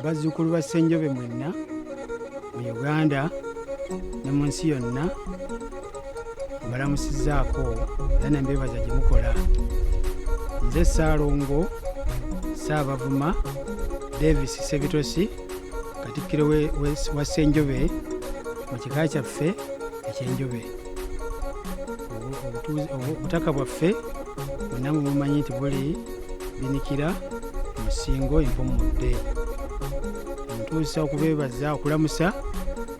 bazzukulu ba ssenjobe mwenna mu uganda ne mu nsi yonna mbalamusizaako era nembeebaza gye mukola nze saalongo saabavuma davis sebitosi katikkiro we- we- wa ssenjobe mu kika kyaffe ekyenjobe Obu- obutuuzi- obu- obutaka bwaffe bonna mubumanyi nti buli binikira musingo empumudde ntuusa okubeebaza okulamusa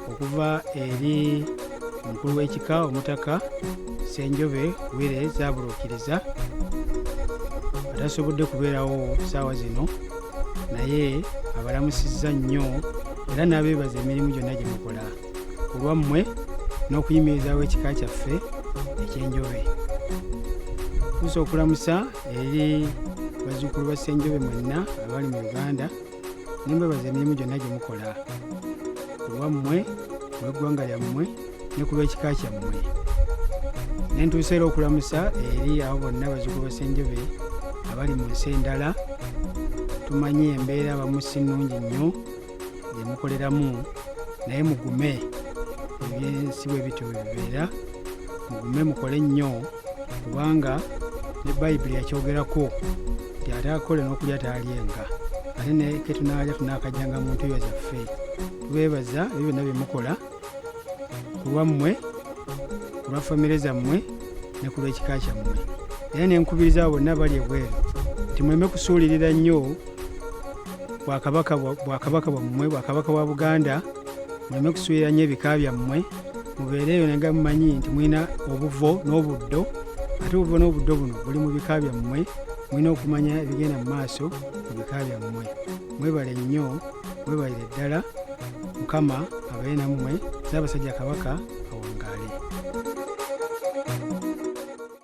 okuva eri omukulu w'ekika omutaka senjobe wire zaabuluukiriza atasobodde kubeerawo saawa zino naye abalamusizza nnyo era n'abeebaza emirimu gyonna gye mukola ku lwammwe n'okuyimirizawo ekika kyaffe ekyenjobe tuusa okulamusa eri bazzukulu ba ssenjobe mwenna abali mu uganda nemwebaza emirimu gyonna gye mukola ku lwammwe ku lw'eggwanga lyammwe ne ku lw'ekika kyammwe ne ntuusa era okulamusa eri abo bonna bazzukulu ba ssenjobe abali mu nsi endala tumanyi embeera abamu si nnungi nnyo gye mukoleramu naye mugume ebyensi bwe bityo bwe bibeera mugume mukole nnyo kubanga ne bayibuli yakyogerako nti ate akole n'okulya taalyenga ate ne ketunaalya tunaakajjanga mu ntuyo zaffe tubeebaza ebyo byonna bye mukola ku lwammwe ku lwa famire zammwe ne ku lw'ekika kyammwe era ne nkubiriza abo bonna bali ebweru nti muleme kusuulirira nnyo bwakabaka bwa- bwakabaka bwammwe bwakabaka bwa buganda muleme kusuulira nnyo ebika byammwe mubeere eyo nenga mumanyi nti mulina obuvo n'obuddo ate obuvo n'obuddo buno buli mu bika byammwe mulina okumanya ebigenda mu maaso mu bika byammwe mwebale nnyo mwebalire ddala mukama abaye nammwe n'abasajja kabaka